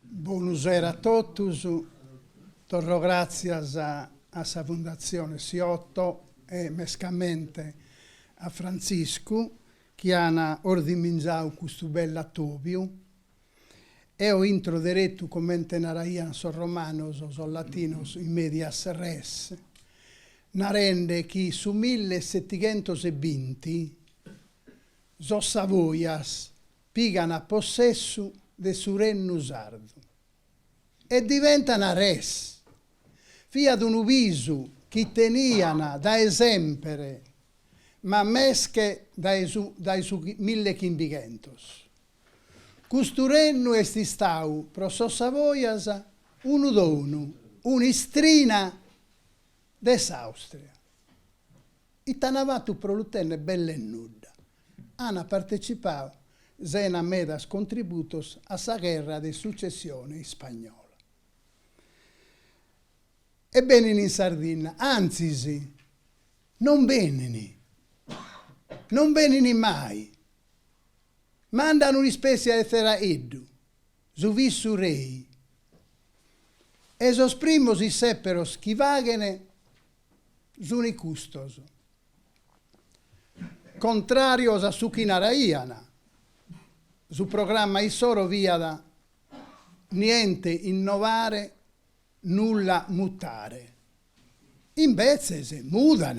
Bonu sera a totus, torro gràtzias a sa Fundatzione Siotto e mescamente a Frantziscu chi an ordiminzau custu bellu atòbiu Eo intro deretu comente naraiant sos romanos, sos latinos, in medias res, narende chi su mille setighentos e binti sos Savoias pigan a possessu de su rennu sardu e diventan res. Fiat unu bisu chi tenian dae semper ma mesche dae su dae su mille chimbighentos. Custu rennu est istau pro sos Savojas unu donu, un'istrina de s'Àustria. Ite an fatu pro lu tenner belle nudda. Ana partecipau sena medas contributos a sa gherra de sucessione ispagnola. E benin in Sardinna, antzis, non benin, non benin mai. Mandan un'ispètzie de tzeracheddu, su visurrei, e sos primos issèperos chi faghen sunt custos. Contràrios a su chi naraian, su programma issoro fiat Niente innovare, nulla mutare. Imbetzes mudan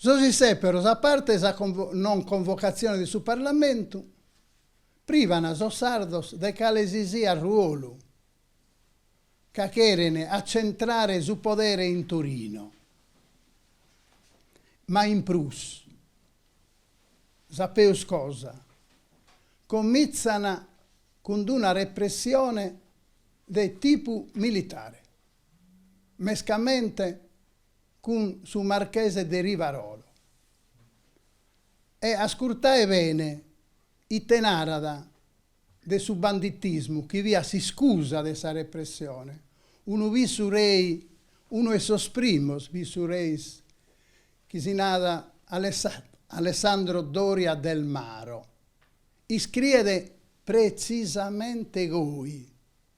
Sos issèperos, a parte sa non convocatzione de su Parlamentu, privan sos sardos de calesisiat ruolu ca cheren atzentrare su podere in Torino. Ma in prus, sa peus cosa, comitzan cun una repressione de tipu militare. mescamente cun su marchese de Rivarolo. E ascurtae bene ite narat de su banditismu chi fiat s'iscusa de sa repressione, unu visurrei, unu 'e sos primos visurreis chi si nat Alessandro Doria del Maro, iscriet pretzisamente goi.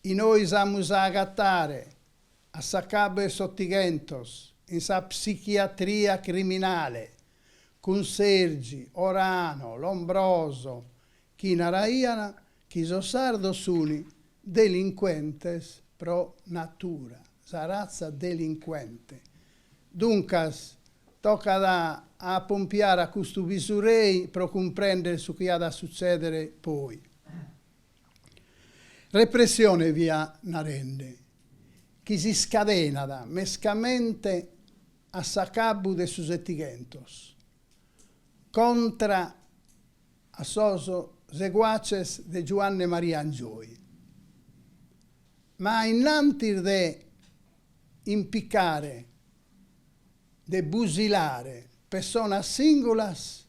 E nois amus a agatare, a s'acabu 'e s'Otighentos, in sa psichiatria criminale, cun Sergi, Orano, Lombroso, chi naraian chi sos sardos sun delincuentes pro natura, sa ratza delincuente. Duncas, tocat a apompiare a custu pisurei pro cumprèndere su chi at a sutzèdere poi. Repressione fia narende, chi si scadenat mescamente a s'acabu de su setighentos, contra a sos seguaces de Giuanne Maria Angioy, ma innantis de impicare de fusilare pessonas singulas,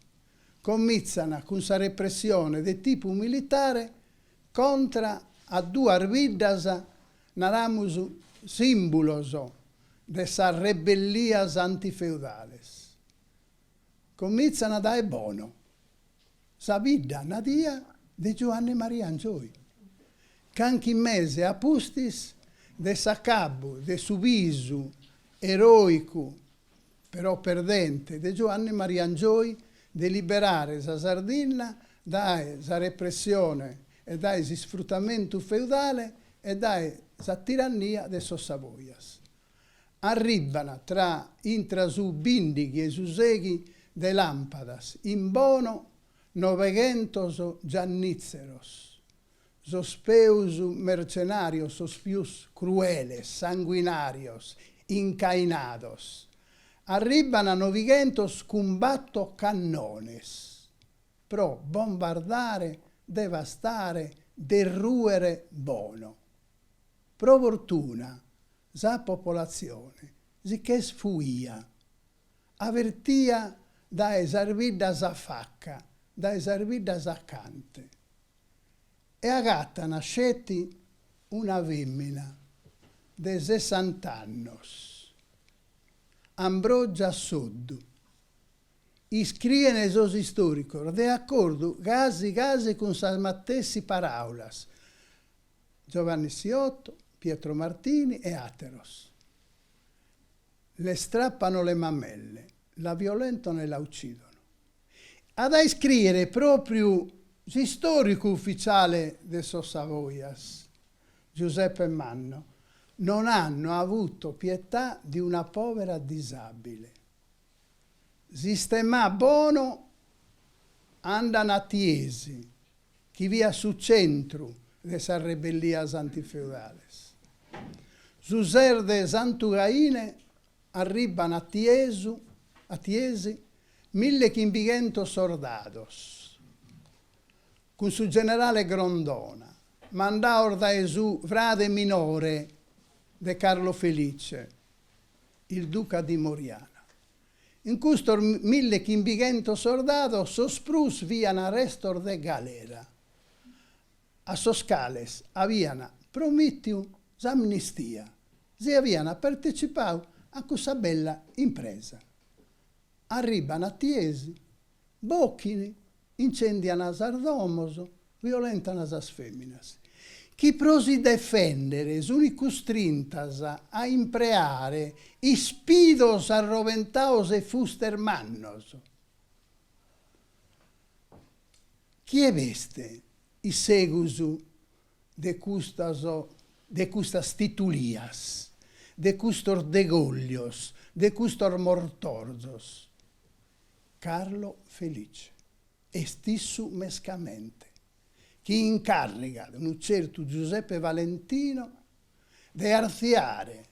comintzana cun sa repressione de tipu militare contra a duas biddas, naramus sìmbulos de sas rebellias antifeudales. Comintzana dae Bono sa bidda nadia de Giuanne Maria Angioi, canchi mese a pustis de s'acabu de su bisu eròicu però perdente, de Giuanni Maria Angioi de liberare sa Sardinna dae sa repressione e dae s'isfrutamentu feudale e dae sa tirannia de sos Savoias. Arribban tra intra su bìndighi e su seghi de làmpadas in Bono noveghentos giannìtzeros, Sos peus mertzenàrios sos pius crueles, sanguinàrios, incainados, arribban a novighentos cun batto cannones pro bombardare, devastare, derrùere Bono. Pro fortuna sa popolatzione si ch'est fuia, avertia dae sas biddas afacca, dae sas biddas acante. e agatana sceti una femmina de sessant'annos, Ambrogia Soddu. Iscriene sos istoricos de accordu casi casi cun sas matessi paraulas Giovanni Siotto, Pietro Martini e ateros, Le strappano le mammelle, la violentano e la uccidono. At a iscrìere pròpriu s'istòricu ufitzale de sos Savojas, Giuseppe Manno, Non hanno avuto pietà di una povera disabile. Sistemà Bono andan a Tiesi, chi fiat su centru de sas rebellias antifeudales. Su ses de Santu Caine Arribban a sa, a Tiesi, mille chimbighentos sordados, cun su generale Grondona, mandados dae su frade minore de Carlo Felice, il Duca di Moriana. In custos mille chimbighentos sordados sos prus fian restos de galera. a sos cales avian promìtiu s'amnistia si avian partetzipadu a cussa bella impresa. Arribban a Tiesi, bochin, intzèndian sas domos, violentan sas fèminas. Chi pro si defèndere sunt custrintas a impreare ispidos arroventados e fustes mannos. Chie b'est in segus de custas de custas titulias, de custos degollios, de custos mortorzos? Carlo Felice, Est issu mescamente, chi incàrrigat unu tzertu Giuseppe Valentino de artziare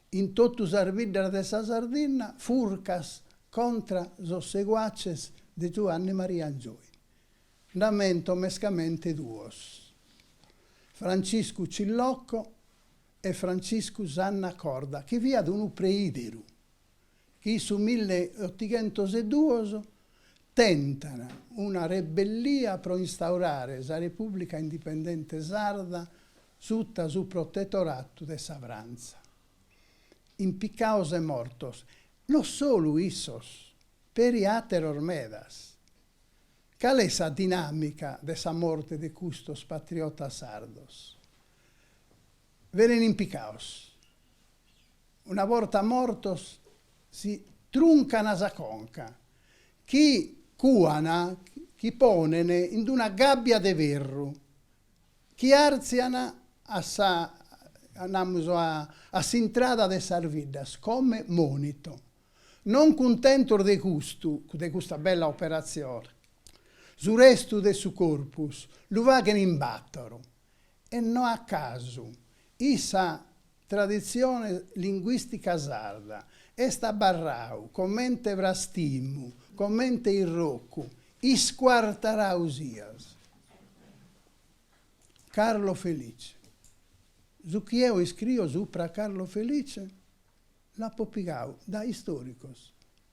in totu sas biddas de sa Sardinna furcas contra sos seguaces de Giuanne Maria Angioy. Nd'amento mescamente duos, Franciscu Cillocco e Franciscu Sanna Corda, chi fiat unu preideru. chi in su milleotighentoseduos tentan una rebellia pro instaurare sa Repùblica Indipendente Sarda sutta su protetoratu de sa Frantza. Impicados e mortos, no solu issos, peri àteros medas. Cale est sa dinàmica de sa morte de custos patriotas sardos? Benin impicados. Una borta mortos si truncana sa conca, chi cuana chi ponen in d'una gabbia de ferru, chi artziana a sa, namus, a s'intrada de sas biddas come monito. Non cuntentos de custu, de custa bella operatzione, su restu de su corpus lu faghen in batoru, e no a casu in sa traditzione linguìstica sarda est abarrau comente frastimu, comente irrocu, iscuartarau sias. Carlo Felice. Su chi eo iscrio supra a Carlo Felice l'apo pigau dae istòricos.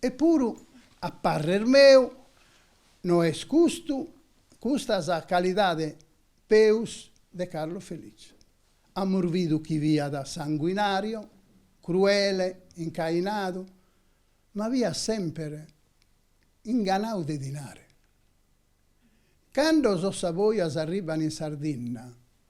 E puru, a parrer meu, no est custu, custa sa calidade peus de Carlo Felice. Amus bidu chi fiat sanguinario, cruele, incainadu, ma fiat semper inganiu de dinare. Cando sos saboias arribban in Sardinna,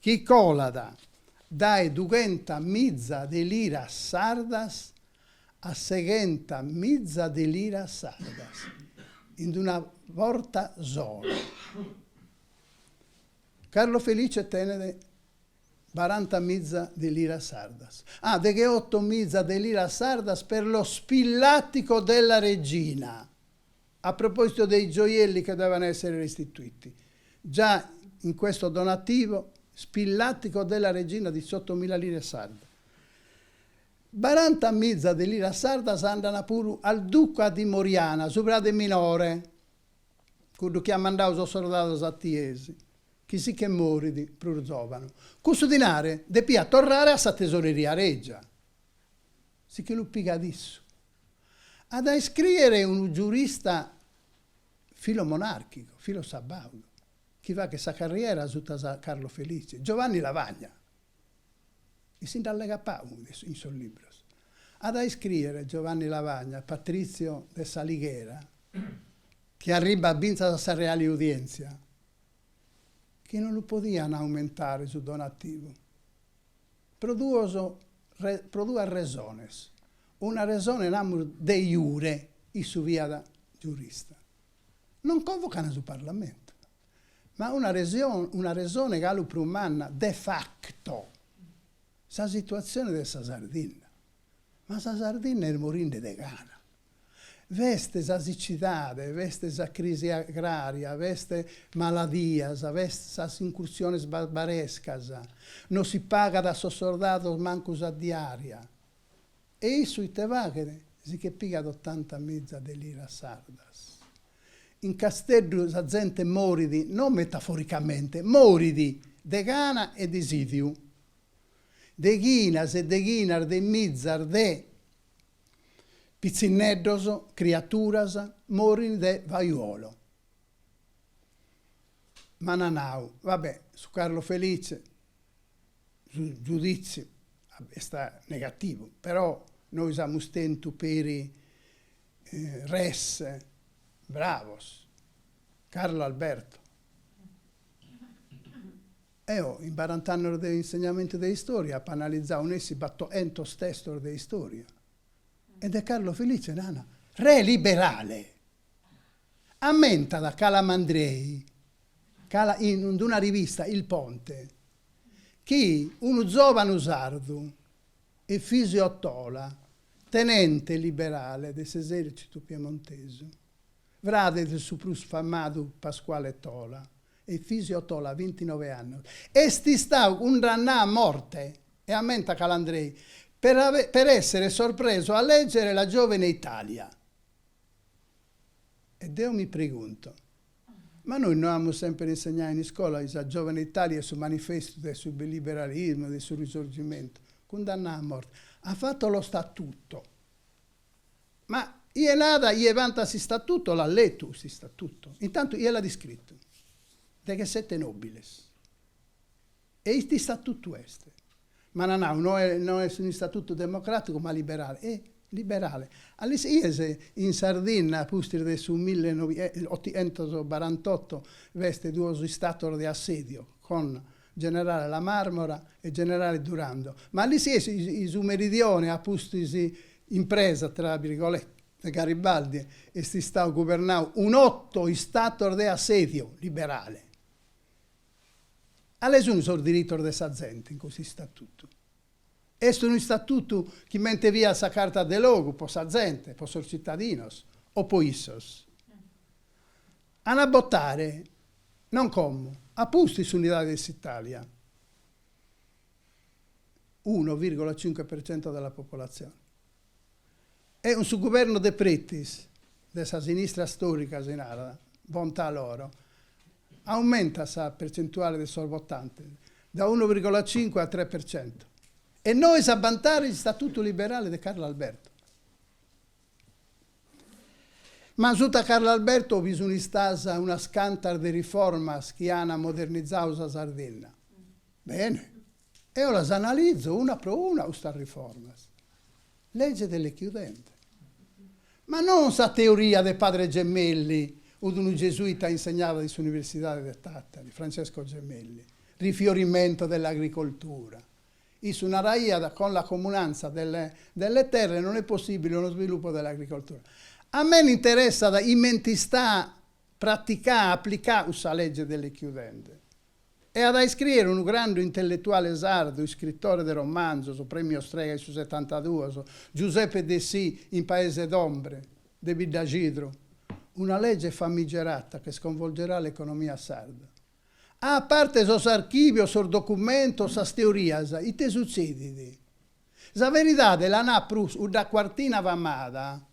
chi colat dae dughenta miza de liras sardas a seghenta miza de liras sardas in d'una borta sola. Carlo Felice tenet baranta miza de liras sardas, ah, deghe oto miza de liras sardas per lo spillatico della regina, A proposito dei gioielli che devono essere restituiti, già in questo donativo spillatico della regina diciottomila lire sarde, barantamiza de liras sardas andan puru al duca di Moriana, su frade minore, cuddu chi at mandau sos sordados a Tiesi, chi si che morit prus zovanu. Cussu dinare depiat torrare a sa tesoreria regia. Si che lu pigat issu. At a iscrìere unu giurista filomonàrchicu, filosabàudu, chi faghet sa carriera suta a Carlo Felice, Giovanni Lavagna. E si nd'allegat pagu in sos libros. At a iscrìere Giovanni Lavagna, patrìziu de s'Alighera, chi arribbat fintzas a sa Reale Udièntzia, chi non lu podian aumentare su donativu, Pro duos pro duas resones. Una resone namus de iure, issu fiat giurista, non convocan su parlamentu, ma una una resone galu prus manna de facto, sa situazione de sa Sardinna, ma sa Sardinna est morinde de gana. B'est sa sicidade, b'est sa crisi agrària, b'est maladias, b'est sas incursiones barbarescas, no si pagat a sos sordados mancu sa diària. E issu ite faghet? Si che pigat otanta miza de liras sardas. In Casteddu sa zente morit, no metaforicamente, morit de gana e de sìdiu. Deghinas e deghinas de mizas de Pitzinneddos, criaturas, morin de vaiuolo. M'ana nau, va bè, su Carlo Felice, su giuditziu est negativu, però nois amus tentu peri res, bravos. Carlo Alberto. Eo, in barant'annos de insegnamentu de istòria, apo analizau nessi battoentos testos de istòria. E de Carlo Felice nana, re liberale! Ammentat Calamandrei, cala in d'una rivista, Il Ponte, chi unu zòvanu sardu, Efisio Tola, tenente liberale de s'esèrcitu piemontesu, Frade de su prus famadu Pasquale Tola Efisio Tola, bintinove annos, est istadu cundannau a morte, e ammentat Calandrei, per essere sorpreso a leggere La giovane Italia. E deo mi pregunto, ma nois no amus semper insegnau in iscola Sa giovane Italia est su manifestu de su liberalismo, de su risorgimentu? Cundannau a morte. Ha fatto lo statuto. Ma ie nat, ie bantat s'istatuto, l'at letu s'istatuto, intantu ie l'at iscritu, deghe sete nobiles. E ite istatutu est? M'ana nau, no est, no est un'istatutu democraticu ma liberale. E liberale? A l'isies in Sardinna a pustis de su mille nobi, e, otientos barantotto b'at duos istatos de assedio, con Generale La Marmora e Generale Durando, ma a l'isies su meridione a pustis impresa tra birgoletas de Garibaldi, est istau gubernau in oto istatos de assèdiu liberale. Cales sunt sos diritos de sa zente in custu istatutu? Est unu istatutu comente fiat sa carta de logu pro sa zente, pro sos tzitadinos o pro issos? An a botare, non como a pustis s'Unidade de s'Italia, uno virgola cinque per cento della popolazione, e cun su guvernu Depretis, de sa sinistra storica si narat, bontà loro, aumentat sa percentuale de sos votantes da uno virgola cinque a tres per cento. E nois a bantare il statuto liberale de Carlo Alberto. M'an, suta Carlo Alberto bi sun istas unas cantas de riformas chi ana modernizau sa Sardinna. Bene. Eo las analizo una pro una custas riformas. Legge delle chiudende. Ma non sa teoria de Padre Gemelli, ut unu gesuita insegnaat in s'Universidade de Tattari, Francesco Gemelli, rifiorimento dell'agricoltura, Issu naraiat, Cun la comunanza delle terre non è possibile uno sviluppo dell'agricoltura. A me m'interessat comente est istà praticà, applicà cussa legge delle chiudende. E at a iscriere unu grandu intelletuale sardu, iscrittore de romanzos, premio Strega in su setantaduos, Giuseppe Dessì in Paese d'ombre de Biddaxidru, una legge famigerata che sconvolgerà l'economia sarda. A parte sos archìvios, sos documentos, sas teorias, ite sutzedit? Sa veridade la nat prus cudda cuartina famada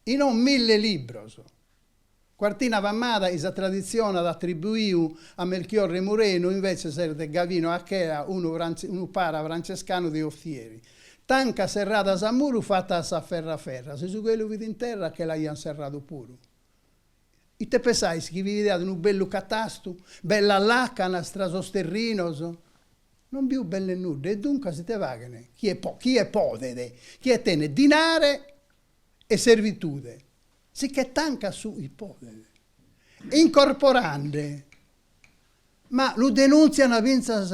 chi non mille libros. Cuartina famada chi sa traditzione at atribuiu a Melchiorre Murenu inveces est de Gavino Achea, unu para francescanu de Othieri. Tancas serradas a muru fatas a s'aferra aferra, si su chelu fit in terra che l'aiant serradu puru. Ite pensais chi bi fiat unu bellu catastu, bellas lacanas tra sos terrinos? Non bi fut belle nudda e duncas ite faghen chie podet, chie tenet dinare e servitude, si che tancat su chi podet. Incorporande, ma lu denuntzian fintzas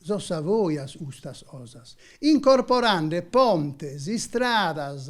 sos Savoias custas cosas, incorporande pontes, istradas,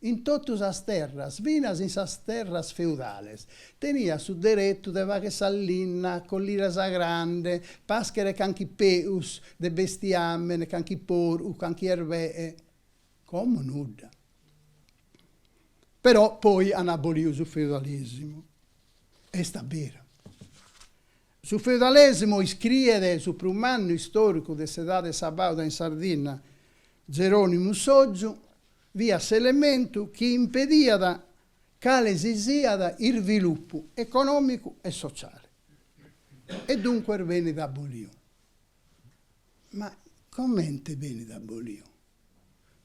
In totu sas terras, finas in sas terras feudales, teniat su deretu de fagher sa linna, collire sa grande, pàschere canchi peus de bestiàmene, canchi porcu, canchi erbeche. Como nudda. Però poi an aboliu su feudalesimu. Est a beru. Su feudalesimu iscriet su prus mannu istòricu de s'edade sabàuda in Sardinna, Zeronimu Sotgiu, fiat s'elementu chi impediat cale si siat isvilupu econòmicu e sociale e duncas benit aboliu. Ma comente benit aboliu?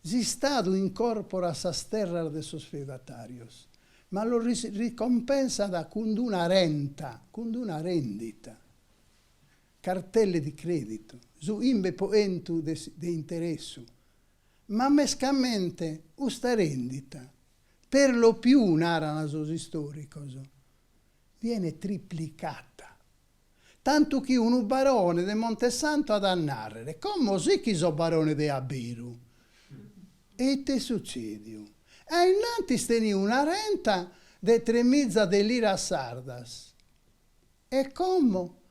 S'Istadu incorporat sas terras de sos feudatàrios, ma los ricompensat cun d'una renta, cun d'una rèndita, cartelle di crèditu, su chimbe po chentu de interessu, Ma mescamente custa rendita, per lo più, naran sos istoricos, viene triplicata, tantu chi unu barone de Montesanto at a narrer, como si chi so barone de a beru? E ite est sucediu? A innantis teniu una renta de tre miza de liras sardas e como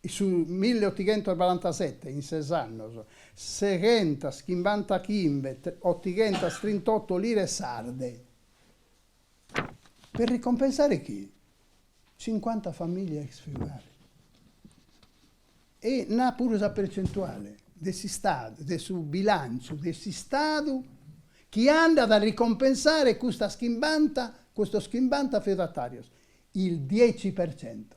In su milli otighentos baranta oto, in ses annos, seghentas chimbanta chimbe otighentas trint'oto lire sarde, per ricompensare chi? Cincuanta famiglie ex feudali. E nà puru sa percentuale de s'Istadu, de su bilànciu de s'Istadu chi andat a ricompensare custas chimbanta, custos chimbanta feudatarios, il dieci per cento.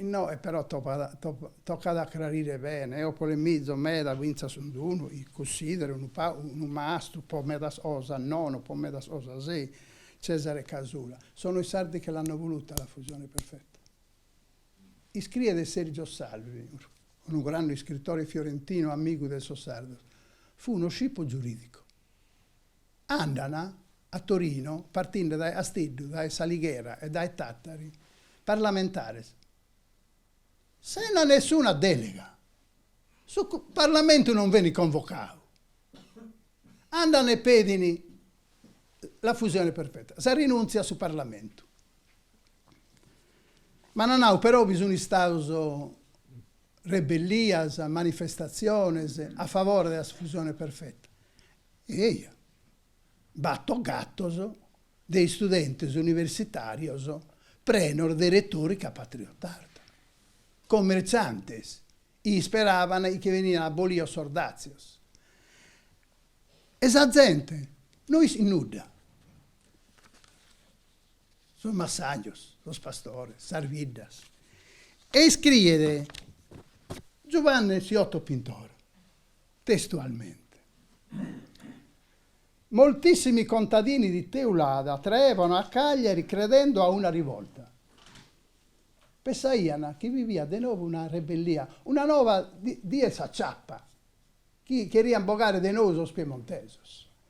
No, e però tocat a crarire bene, eo polemizo meda fintzas cun unu chi cussideru unu mastru po medas cosas, nono po medas cosas sì, Cesare Casula. Sono i sardi che l'hanno voluta la fusione perfetta. Iscriet Sergio Salvi, unu grande iscritore fiorentino amigu de sos sardos, fu uno scippo giuridico. Andan a Torino partinde dae Casteddu, dae S'Alighera e dae Tàtari parlamentares sena nessuna dèlega. Su parlamentu non benit convocadu. Andan e pedin la fusione perfetta, sa rinùntzia a su parlamentu. M'ant nau però chi sunt istados rebellias, manifestatziones a favore de sa fusione perfetta. E eia, bator gatos de istudentes universitàrios prenos de retorica patriotarda, comertzantes, isperaian chi benian abolios sos dàtzios. E sa zente no ischit nudda, sos massajos, sos pastores, sas biddas. E iscriet Giuvanne Siotto Pintore, Testualmente, Moltissimi contadini di Teulada traevano a Cagliari credendo a una rivolta. Pensaian chi bi fiat de novu una rebellia, una nova die de s'aciappa, chi cherian bogare de nou sos piemontesos.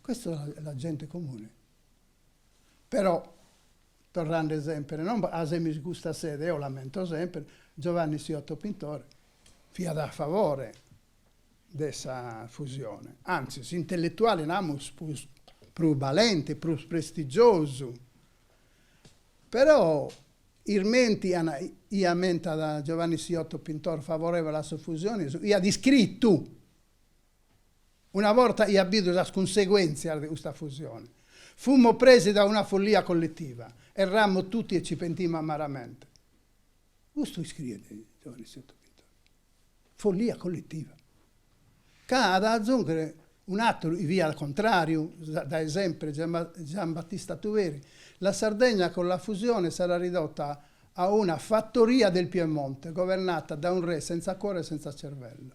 Questa è la gente comune. Però, torrende semper, non a semis custa sede, eo l'ammento semper, Giovanni Siotto Pintore fiat a favore de sa fusione, antzis s'intelletuale, namus, prus prus balente, prus prestigiosu. Però, ismentian, l'ammentat Giovanni Siotto Pintore, favorevole a sa fusione, iat iscritu, Una borta iat bidu sas cunseguèntzias de custa fusione, fùmmo presi da una follia collettiva, errammo tutti e ci pentimmo amaramente. Custu iscriet Giovanni Siotto Pintor. Follia colletiva. Ch'at de azùnghere un'àteru chi fiat contràriu dae sempre, Giambattista Tuveri, La Sardegna con la fusione sarà ridotta a una fattoria del Piemonte governata da un re senza cuore e senza cervello.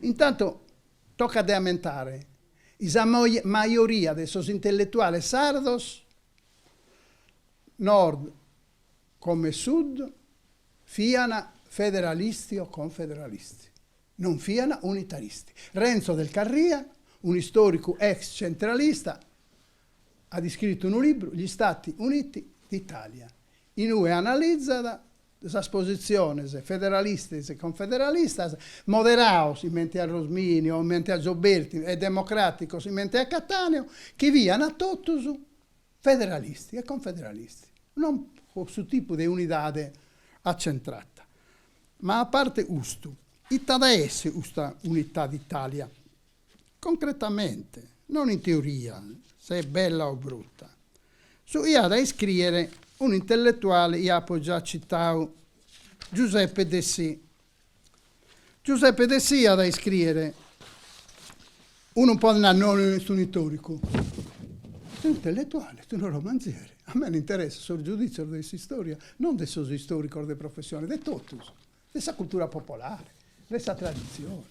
Intantu tocat de ammentare chi sa majoria de sos intelletuales sardos, Nord comente Sud, fiant federalisti o confederalisti, non fiant unitaristi. Renzo Del Carria, un'istòricu ex centralista, at iscritu unu libru, Gli Stati Uniti d'Italia, in ue analizat sas positziones federalistas e confederalistas, moderados comente a Rosmini o comente a Gioberti e democràticos comente a Cattaneo, chi fiant totus federalistas e confederalistas, non pro su tipu de unidade atzentrata. Ma a parte custu, ite at a essi custa unitade d'Itàlia? Concretamente, non in teoria, se est bella o bruta. Su chi at a iscrìere unu intelletuale chi apo già citadu, Giuseppe Dessì. Giuseppe Dessì at a iscrìere, unu podit nai non est unu istòricu, est unu intelletuale, est unu romanzieri. A mei m'interessant sos giudìtzios de s'istòria, non de sos istòricos de professione, de totus, de sa cultura popolare, de sa traditzione.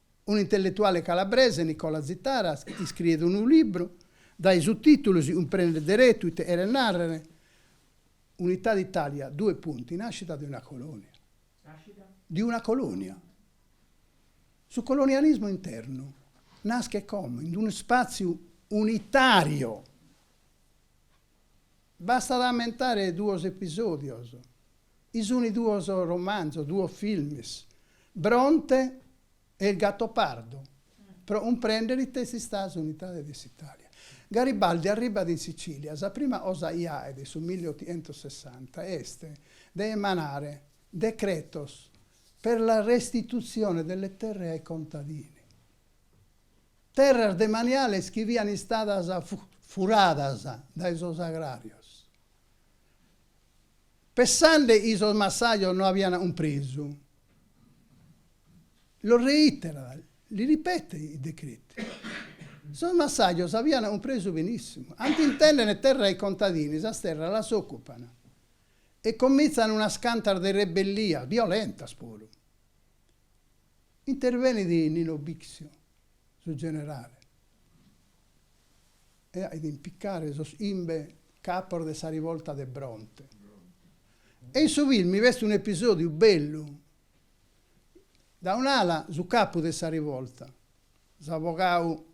Unu intelletuale calabrese, Nicola Zitara, iscriet unu libru, dae su tìtulu si cumprendet deretu ite cheret nàrrere Unità d'Italia, due punti, nascita di una colonia. Nascita? Di una colonia. Su colonialismu internu naschet come? In unu ispàtziu unitàriu. Bastat a ammentare duos episòdios, chi sunt duos romanzos, duos filmes, Bronte e Il Gattopardo, pro cumprèndere ite est istada s'unitade de s'Itàlia. Garibaldi arribbat in Sicìlia, sa prima cosa chi faet in su milli otientos sessanta est de emanare decretos per la restituzione delle terre ai contadini. Terras demaniales chi fiant istadas furadas dae sos agràrios, pensende chi sos massajos no aiant cumpresu, lo reiterat, li ripete il decreto, sos massajos aiant cumpresu benissimu, cando intendene terra ai contadini, sas terras las ocupan e comintzan unas cantas de rebellias, violentas puru. Intervenit Nino Bixio, su generale, e ait impicare sos imbe capos de sa rivolta de Bronte. E in su filmi b'est un'episòdiu bellu, da un'ala su capu de sa rivolta, s'avogadu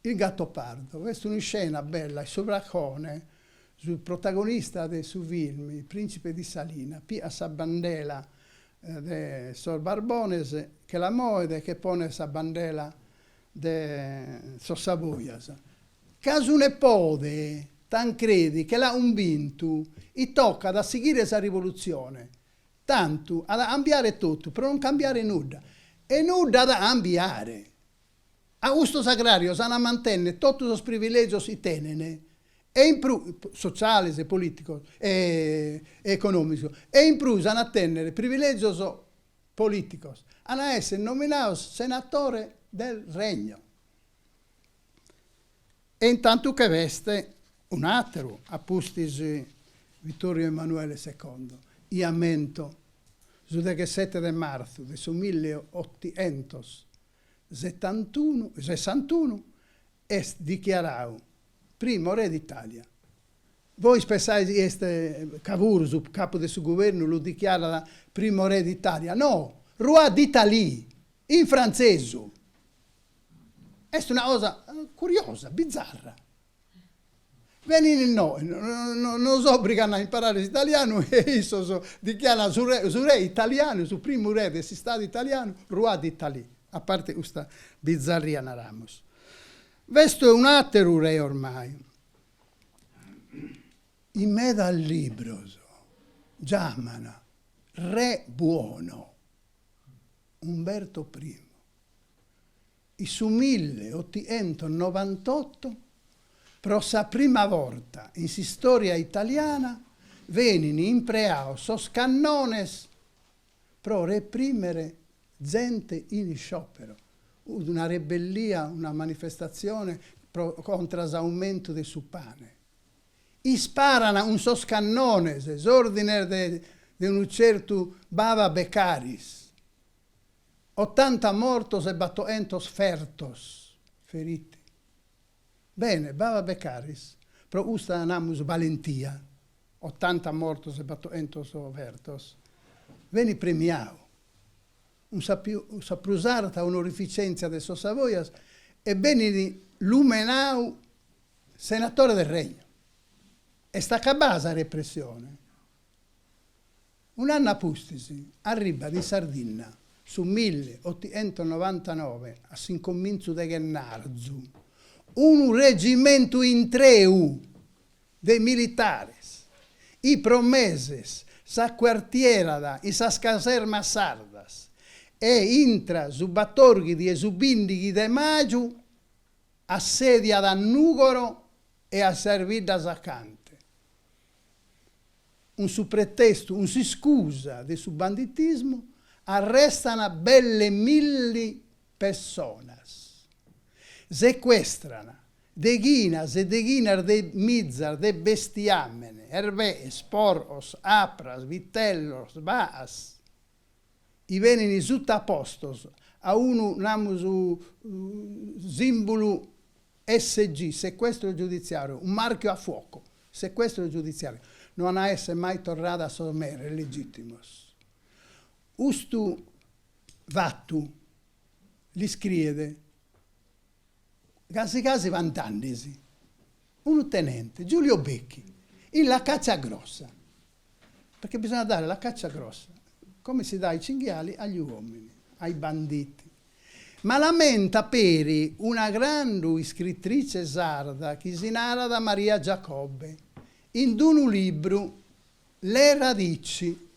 Il Gattopardo est un'iscena bella e su pracone, su protagonista de su film, il principe di Salina, pigat sa bandela de sos Borbones, che la moet e che ponet sa bandela de sos Savoias. Ca su nepode, Tancredi, che l'at umbintu, chi tocat a sighire sa rivolutzione, tantu at a ambiare totu pro non cambiare nudda. E nudda at a ambiare! A custos agràrios ant a mantenner totu sos privilègios chi tenent, e in prus, sotziales e polìticos e econòmicos, e in prus ant a tenner privilègios polìticos, ant a èssere nominados senatore del regno. E in tantu che b'est un'àteru, a pustis Vittorio Emanuele secondo, chi ammento, su deghesete de martzu de su mille e otientos setantunu sessantunu est dichiarau primo re d'Italia. Bois pensais chi est Cavour, su capu de su guvernu lu dichiarat primo re d'Italia? No! Roi d'Italie, in frantzesu! Est una cosa curiosa, bizarra. Benin inoe, nos obrigan a imparare s'italianu e issos dichiaran su re, su re italianu, su primu re de s'Istadu italianu, Roi d'Italie. A parte custa bizarria naramus. B'est un'ateru re ormai. In medas libros giaman re buono Umberto Primo. In su milleotientonovantotto, pro sa prima borta in s'istòria italiana, benint impreados sos cannones pro reprimere zente in isciòpero, una rebellia, una manifestatzione pro contra s'aumentu de su pane. Isparan cun sos cannones s'òrdines de unu certu Bava Beccaris, Otanta mortos e battoentos fertos, feriti. Bene, Bava Beccaris, pro custa namus balentia, otanta mortos e battoentos fertos, benit premiau, cun sa prus arta onorificèntzia de sos Savoias, e benit lumenau Senatore del Regno. Est acabada sa repressione? Un'annu a pustis arribat in Sardinna, su milli otientos novantanove, a s'incomintzu de chennarzu, unu regimentu intreu de militares, 'i pro meses s'acuartierat in sas casermas sardas e intra su batorghidi e su bindighi de maju assediat a Nùgoro e a sas biddas acanta. cun su pretestu, cun s'iscusa de su banditismu, arrestan belle milli pessonas, secuestran deghinas e deghinas de mizas de bestiàmene, erbees, porcos, apras, vitellos, baas, 'I benini sutapostos a unu namus simbulu SG, sequestro giudiziario, un marchio a fuoco, sequestro giudiziario, no an a esser mai torrada a sos meres legitimos. Custu fattu l'iscriet casi casi vantandesi Unu tenente, Giulio Bechi, in La Caccia Grossa, perché bisogna dare la caccia grossa, come si dà ai cinghiali agli uomini, ai banditi. Ma l'ammentat peri una grandu iscrittrice sarda chi si narat Maria Giacobbe, in d'unu libru Le radici.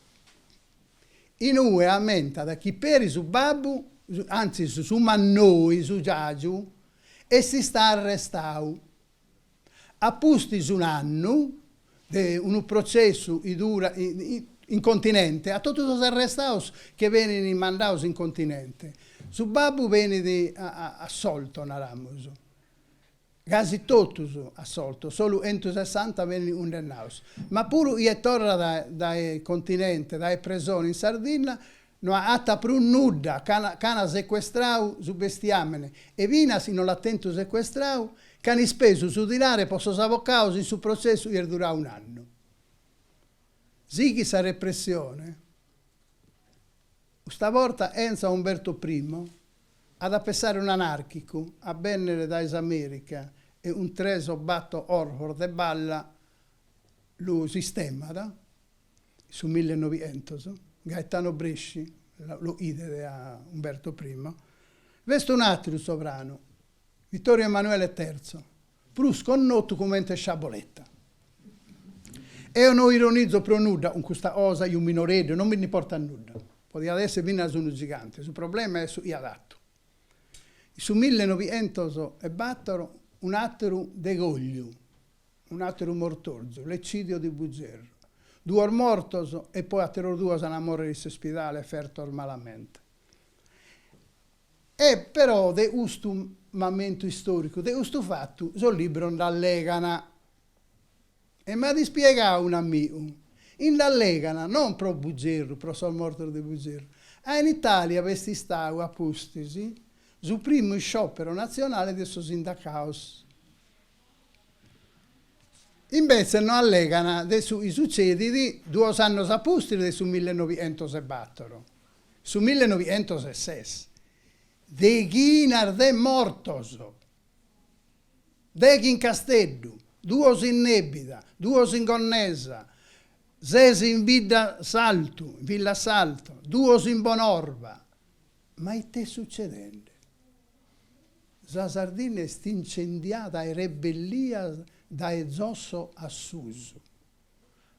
In ue ammentat chi peri su babbu, antzis su mannoi, su giàgiu, est istau arrestau a pustis un'annu de unu processu chi durat in continente, 'a totus sos arrestaus che benint mandaus in continente, su babbu benit assolto, naramus, Casi totus assoltos, solu 'entusessanta benint cundennaos. Ma puru 'ie torrat dae continente, dae presone in Sardinna, no agattat prus nudda, ch'ana secuestrau su bestiamene, e finas chi no l'at tentu secuestrau, ch'an ispesu su dinare po sos avocados in su protzessu 'i est durau un'annu. Sighit sa repressione. Custa borta enza a Umberto Primo at a pessare un'anàrchicu a bènnere dae s'Amèrica e 'un tres o bator 'orfos de balla lu sistemat. In su mille e nobientos Gaetano Bresci l'o'idet a Umberto Primo. B'est un'àteru sovranu, Vittorio Emanuele Terzo, prus connotu comente Sciaboletta. Eo no ironizo pro nudda cun custa cosa, chi fut minoreddu, non mi nd'importat nudda, podiat esser finas unu gigante, su problema est su chi at fatu. In su millenovientos e bator un'ateru degogliu, un'ateru mortorzu, l'eccidio di Bugerru, duos mortos e poi ateros duos an a morrer in s'ispidale fertos malamente. E però de custu mamentu istòricu, de custu fatu, sos libros nd'allegana. E m'at ispiegadu un'amigu, chi nd'allegana non pro Bugerru, pro sos mortos de Bugerru, ca in Itàlia b'est istadu a pustis su primu isciòpero natzionale de sos sindacados. Imbetzes no allegana de su chi sutzedit duos annos a pustis de su millenovientos e bator, Su millenovientos e ses, deghinas de mortos, deghi in Casteddu, duos in Nèbida, duos in Gonnesa, ses in Bidda Saltu, in Villasalto, duos in Bonorva. Ma it'est sutzedende? Sa Sardinna est incendiada de rebellias dae zosso a susu,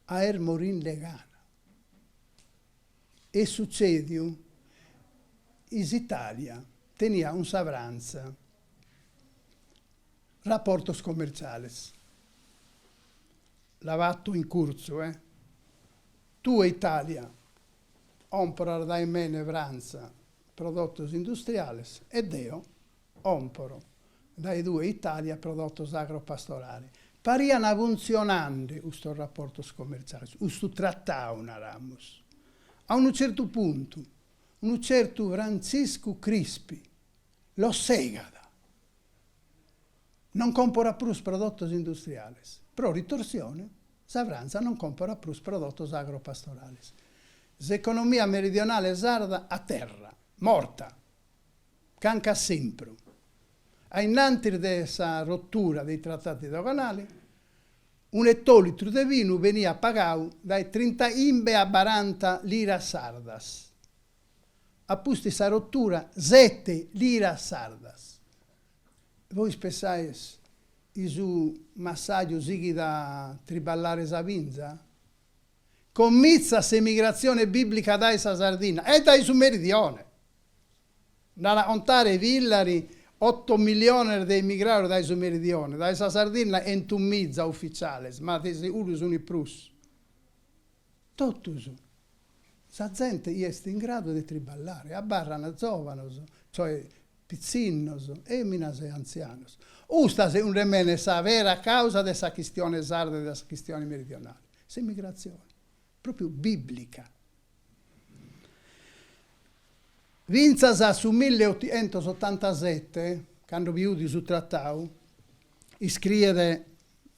ca est morinde de gana. Est sutzèdiu chi s'Itàlia teniat cun sa Frantza raportos commertzales, la fatto in curtzu, eh, tue Itàlia comporas dae mene Frantza prodotos industriales e deo Comporo dae tue Italia prodotos agropastorales. Pariana funtzionande custos raportos comertziales, custu tratadu naramus, a unu tzertu puntu, unu tzertu Frantziscu Crispi los segat, non comporat prus prodotos industriales, pro ritorsione sa Frantza non comporat prus prodotos agropastorales. S'economia meridionale sarda a terra, morta. Cancu esempru. A innantis de sa rotura dei trattati doganali, un ettolitru de vinu beniat pagau dae trintachimbe a baranta liras sardas. Apustis sa rotura sete liras sardas. Vois pessais chi su massaju sighit a triballare sa vinza? Comintzat s'emigratzione bìblica dae sa Sardinna e dae su Meridione. Nd'at a contare Villari, Oto milliones de emigrados dae su Meridione, dae sa Sardinna entu miza ufitziales, ma de seguru sunt prus. Totus. Sa zente chi est in gradu de triballare, abarrant zòvanos, cioè pitzinnos, èminas e antzianos. Custa, segundu mene, est sa vera càusa de sa chistione sarda e de sa chistione meridionale. S'emigratzione, pròpiu bìblica. Fintzas a su milli e otientos otantasete, cando bi 'udi su tratau, iscriet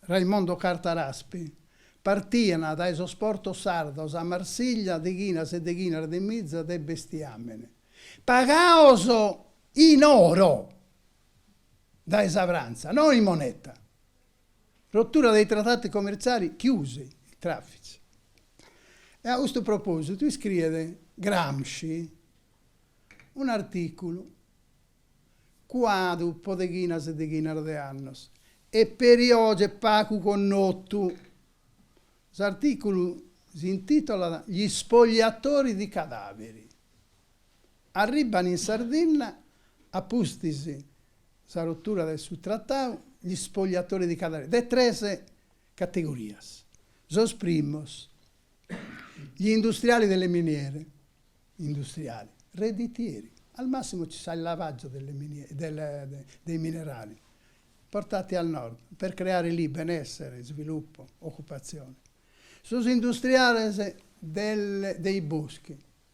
Raimondo Carta Raspi, partian dae sos portos sardos a Marsiglia deghinas e deghinas de mizas de bestiàmene, pagados in oro dae sa Frantza, no in moneta. Rottura dei trattati commerciali, chiusi i traffici. E a custu propositu iscriet Gramsci un'articulu cuadu po deghinas e deghinas de annos e peri oje est pagu connotu. S'articulu s'intitolat Gli spogliatori di cadaveri. Arribban in Sardinna a pustis sa rotura de su tratau gli spogliatori di cadaveri de tres categorias. Sos primos, gli industriali delle miniere, industriali, redditieri, al massimo ci sa il lavaggio delle miniere, del, dei minerali, portati al Nord per creare lì benessere, sviluppo, occupazione. Sos industriales del, dei boschi.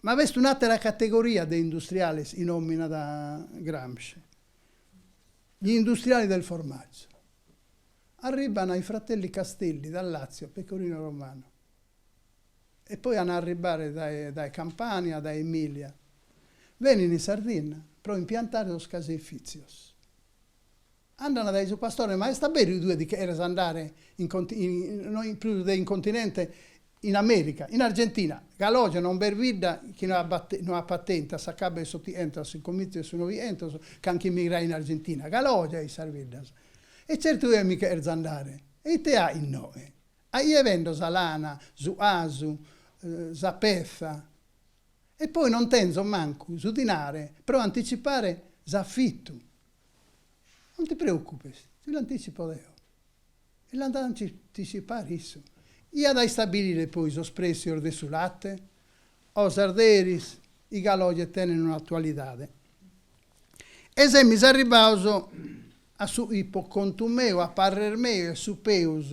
Ma b'est un'àtera categoria de industriales, chi nòminat Gramsci, gli industriali del formaggio. Arribban i fratelli Castelli dal Lazio, Pecorino Romano e poi an a arribbare dae dae Campania, dae Emilia, benin in Sardinna pro impiantare sos caseifizios. Andana dae su pastore, Ma est aberu chi tue ti cheres andare in in prus de in continente, in America, in Argentina? Galoje non b'est bidda chi no abat no apat tentu a s'acabu 'e s'Otientos, s'incominzu 'e su Novientos, carchi emigrau in Argentina. Galoje in sas biddas! E certu chi mi cherzo andare! E ite at innoe? A chie bendo sa lana, su 'asu, sa petza. E poi non tenzo mancu su dinare pro anticipare s'afitu. Non ti preocupes, ti l'anticipo deo. E l'at a anticipare issu, chi at a istabilire poi sos pretzios de su latte. Cosas d'eris chi galoje tenent un'attualidade. E semis arribados a su chi po contu meu, a parrer meu, est su peus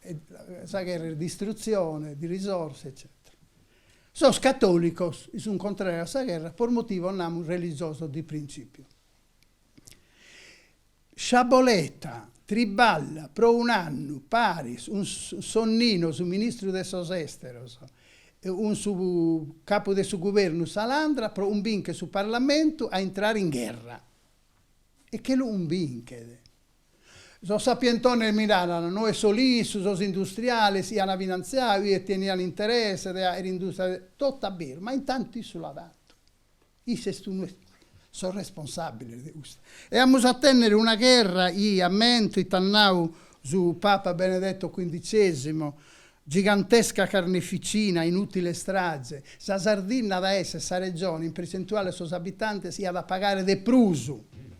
e sa gherra est distruzione di risorse eccètera. Sos catòlicos chi sunt contràrios a sa gherra pro motivos, namus, religiosos de printzìpiu. Sciaboletta triballat pro un'annu paris cun Sonnino, su ministru de sos Èsteros, e cun su capu de su guvernu Salandra pro cumbìnchere su parlamentu a intrare in gherra. E che lu cumbinchet. Sos sapientones mi naran, no est solu issu, sos industriales chi an finantziau e tenian interesse de aer industria de. Totu a beru, ma intantu issu l'at fatu. Issu est unu 'e sos responsabiles de custu. E amus a tennere una gherra chi, ammento, it'at nau su Papa Benedetto Quindicesimo, gigantesca carneficina, inutile strage. Sa Sardinna at a esser sa regione in percentuale a sos abitantes chi at a pagare de prus.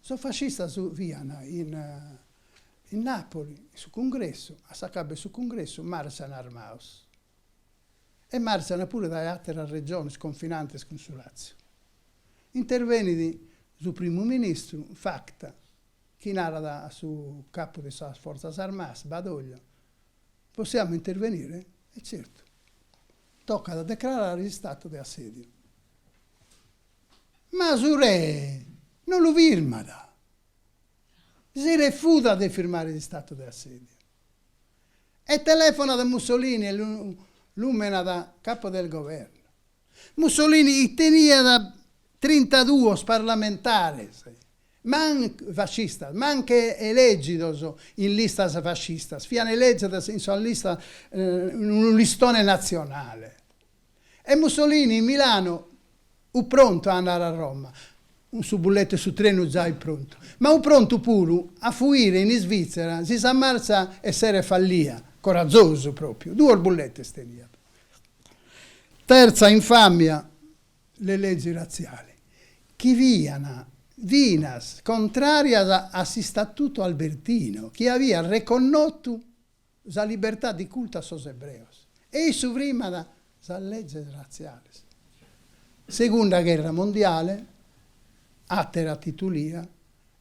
Sos fascistas fiant in in Nàpoli, in su cungressu, a s'acabu 'e su cungressu martzan armaus e martzan puru dae àteras regiones confinantes cun su Làtziu. Intervenit su primu ministru Facta chi narat a su capu de sas fortzas armadas Badoglio, Possiamo intervenire? E certu, tocat a decrarare s'istatu de assèdiu. ma su re no lu firmat. Si refutat de firmare s'istatu de assèdiu e telefonat a Mussolini e lu lùmenat Capo del Governo. Mussolini chi teniat trintaduos parlamentares, fascistas, mancu elègidos in listas fascistas, fiant elègidos in sa lista, in unu listone natzionale. E Mussolini in Milanu ut prontu a andare a Roma, cun su bulletu 'e su trenu zai prontu, ma ut prontu puru a fuire in Isvizzera si sa martza esseret fallia, corazosu propriu, duos bulletes teniat. Terza infamia, le leggi razziali, chi fian finas contrarias a s'Istatutu Albertino, chi aviat reconnotu sa libertà di cultu a sos ebreos e issu frimat sas leges ratziales. Segunda gherra mondiale, àtera titulia,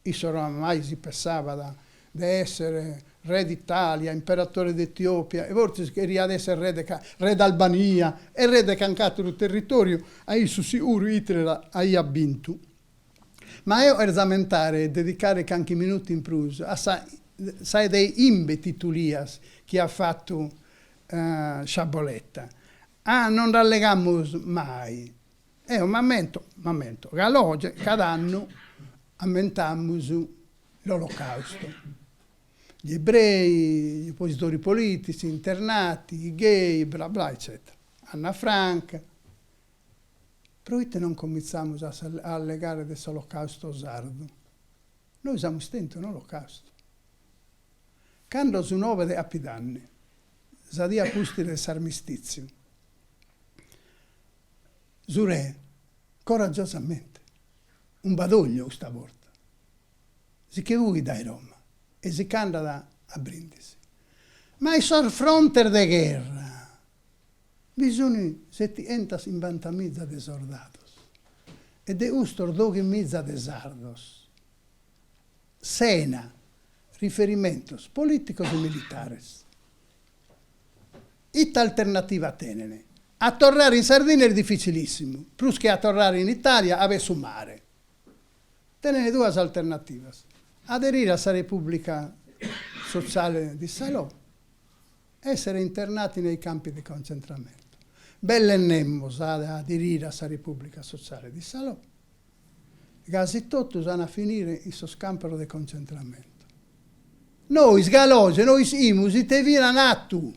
issu oramai si pessabat de èssere re d'Itàlia, imperatore de Etiòpia e fortzis cheriat èssere re d'Albania e re de canc'àteru territòriu, a issu siguru Hitler aiat bintu. Ma eo cherzo ammentare e dedicare canchi minutu in prus a sa sa de 'imbe titulias chi at fatu Sciaboletta. Ah, non nd'allegamus mai. Eo m'ammento, m'ammento, galu oge cada annu ammentamus l'Olocausto. Gli ebrei, gli oppositori politici, internati, i gay, bla bla eccetera. Anna Frank, Pro ite non comintzamos a allegare de s'Olocausto sardu? Nois amus tentu un'Olocausto. Cando su nobe de Capidanni, sa die a pustis de s'armistìtziu, su re, coragiosamente, 'un Badoglio custa borta, si che fuit dae Roma e si ch'andat a Brindisi. Ma in sos frontes de gherra! Bi sunt setientas 'imbanta miza de sordados e de custos doghi miza de sardos, sena riferimentos polìticos e militares. Ite alternativa tenent? A torrare in Sardìnnia est dificilìssimu, prus che a torrare in Itàlia 'a b'est su mare. Tenent duas alternativas, aderire a sa Repubblica Sociale di Salò Essere internati nei campi di concentramento. Belle nemos at a aderire a sa Repùblica Sotziale de Salò. Casi totus ant a finire in sos campos de concentramentu. Nois, galu oge, no 'isimus ite fine ant fatu.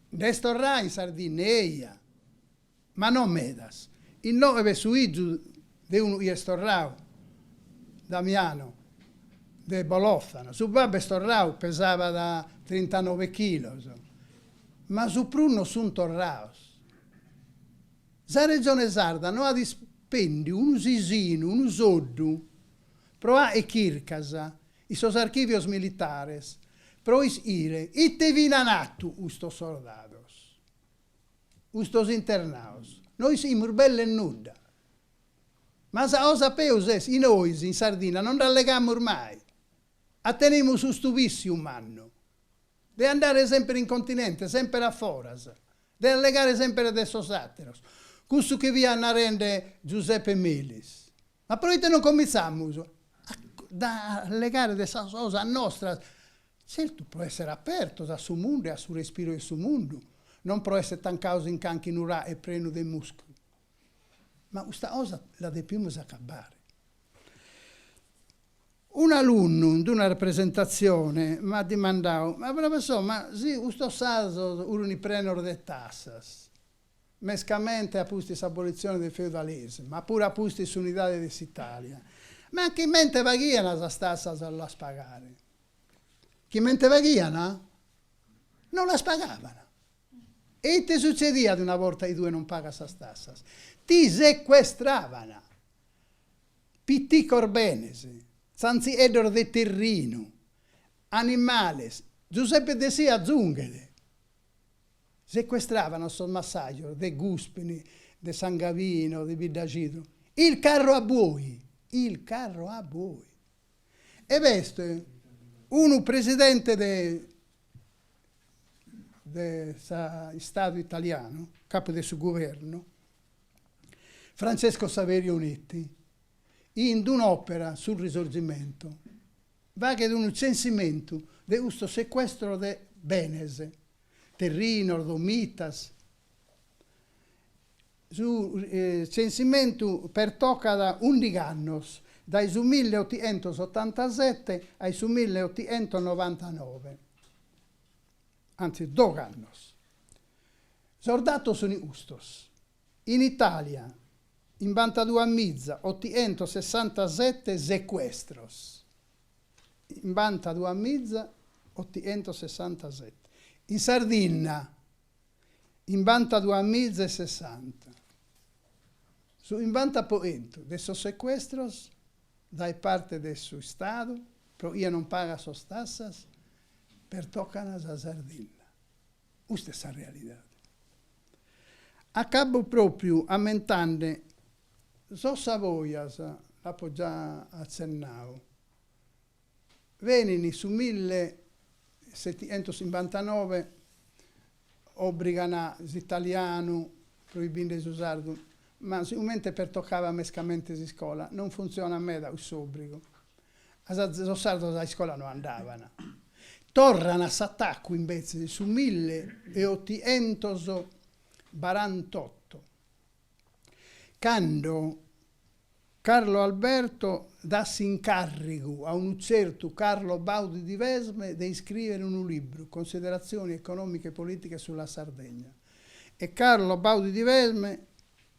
Nd'est torrau in Sardìnnia. Ma no medas. Inoghe b'est su 'iju de unu chi est torradu, Damiano, de Bolòtana. Su babbu est torradu, pesabat trintanove chilos. Ma su prus no sunt torrados. Sa Regione Sarda no at ispèndiu unu sisinu, unu soddu, pro fàghere chircas in sos archìvios militares pro 'isire ite fine ant fatu custos sordados. custos internaos no iscimus belle nudda, ma sa cosa peus est chi nois in Sardinna no nd'allegamus mai, 'a tenemus custu vissiu mannu de andare semper in continente, semper a foras, de allegare semper de sos ateros, cussu chi fiat narende Giuseppe Melis, Ma proite non cominzamus a allegare de sas cosas nostras, zertu pro essere apertos a su mundu e a su respiru de su mundu, non pro essere tancados in canchi nuraghe prenu de muscu. Ma custa cosa la depimus acabbare. Un'alunnu in d'una representatzione m'at dimandadu, ma professore, ma si custos sardos furunt prenos de tassas, mescamente a pustis s'abolitzione de feudalismu, ma puru a pustis s'unidade de s'Italia, ma chimente faghiana sas tassas a las pagare? Chimente faghiana? Non las pagavana. E ite sutzediat una borta chi tue non pagas sas tassas? Ti secuestravana. Piticos benes, tzantzieddos de terrinu, animales, Giuseppe Dessì azunghet, Secuestravan sos massajos de Guspini, de San Gavino, de Biddacidu. Il carro a buoi! Il carro a buoi! Ed est unu presidente de de s'Istadu italianu, capu de su guvernu, Francesco Saverio Nitti, in d'un'òpera, Su Risorgimento, faghet unu tzensimentu de custu secuestro de benes, terrinos, domitas. Su tzensimentu pertocat undigh'annos, dae su mille otientos otantasete a su mille otientos novantanove, antzis dogh'annos. Sos datos sunt custos. In Itàlia chimbantaduas miza otientos sessantasete secuestros, chimbantaduas miza otientos sessantasete. In Sardinna chimbantaduas miza e sessanta. Su chimbanta pro chentu de sos secuestros dae parte de su Istadu pro chie non pagat sas tassas pertocana sa Sardinna. Custa est sa realidade. Acabo pròpiu ammentande sos Savojas, l'apo già atzennadu, benint su millesetientosimbantanove, obrigan s'italianu proibinde su sardu, ma sigomente pertocàt mescamente s'iscola, non funtzionat meda cuss'obrigu. Sos sardos a iscola no andaban. Torran a s'atacu imbetzes in su mille e otientos barantotto, cando Carlo Alberto dat s'incàrrigu a unu tzertu Carlo Baudi di Vesme de iscrìbere unu libru, Considerazioni economiche e politiche sulla Sardegna, e Carlo Baudi di Vesme,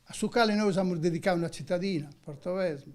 a su cale nois amus dedicadu una tzitadina, Portovesme,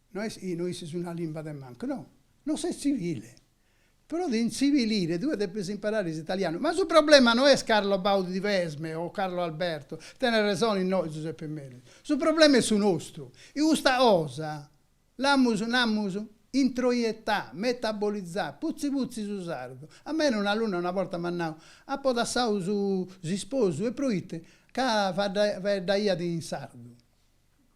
No est chi no ischis una limba de mancu, no, no ses tzivile. Pro ti intzivilire tue depes imparare s'italianu. Ma su problema no est Carlo Baudi di Vesme o Carlo Alberto, tenes resone innoi Zuseppe Meli, su problema est su nostru. E custa cosa l'amus, namus, introiettada, metabolizada, putzi putzi su sardu. A mene un'alunna una borta m'at nau, apo dassau s'isposu e proite ca faeddaiat in sardu.